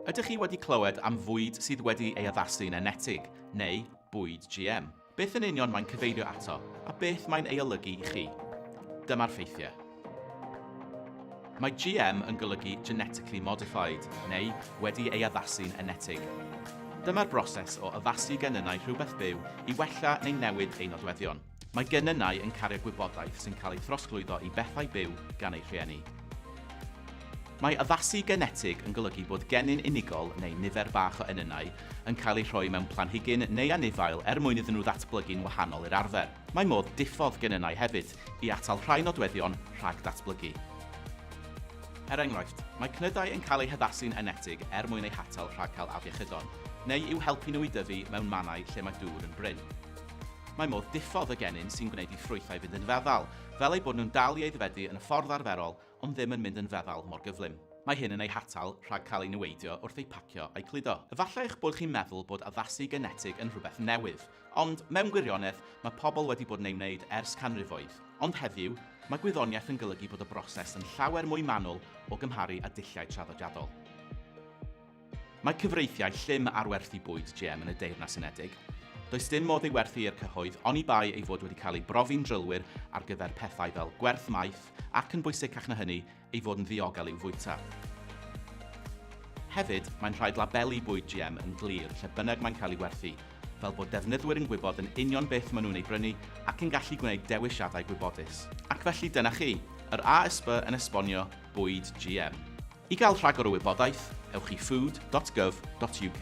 Ydych chi wedi clywed am fwyd sydd wedi ei addasu yn enetig, neu bwyd GM? Beth yn union mae'n cyfeirio ato, a beth mae'n ei olygu i chi? Dyma'r ffeithiau. Mae GM yn golygu genetically modified, neu wedi ei addasu'n enetig. Dyma'r broses o addasu genynnau rhywbeth byw i wella neu newid ei nodweddion. Mae genynnau yn cario gwybodaeth sy'n cael ei throsglwyddo i bethau byw gan eu rhieni. Mae addasu genetig yn golygu bod genyn unigol neu nifer bach o enynnau yn cael eu rhoi mewn planhigyn neu anifail er mwyn iddyn nhw ddatblygu'n wahanol i'r arfer. Mae modd diffodd genynnau hefyd i atal rhai nodweddion rhag datblygu. Er enghraifft, mae cnydau yn cael eu haddasu'n enetig er mwyn eu hatal rhag cael afiechydon, neu i'w helpu nhw i dyfu mewn mannau lle mae dŵr yn brin. Mae modd diffodd y genyn sy'n gwneud i ffrwythau fynd yn feddal, fel eu bod nhw'n dal i aeddfedu yn y ffordd arferol ond ddim yn mynd yn feddal mor gyflym. Mae hyn yn eu hatal rhag cael eu niweidio wrth eu pacio a'u cludo. Efallai eich bod chi'n meddwl bod addasu genetig yn rhywbeth newydd, ond mewn gwirionedd, mae pobl wedi bod yn ei wneud ers canrifoedd. Ond heddiw, mae gwyddoniaeth yn golygu bod y broses yn llawer mwy manwl o gymharu â dulliau traddodiadol. Mae cyfreithiau llym ar werthu bwyd GM yn y Deyrnas Unedig. Does dim modd ei werthu i'r cyhoedd, oni bai ei fod wedi cael ei brofi'n drylwyr ar gyfer pethau fel gwerth maeth ac, yn bwysicach na hynny, ei fod yn ddiogel i'w fwyta. Hefyd, mae'n rhaid labelu bwyd GM yn glir lle bynnag mae'n cael ei werthu, fel bod defnyddwyr yn gwybod yn union beth maen nhw'n ei brynu ac yn gallu gwneud dewisiadau gwybodus. Ac felly dyna chi, yr ASB yn esbonio bwyd GM. I gael rhagor o wybodaeth, ewch i food dot gov dot uk.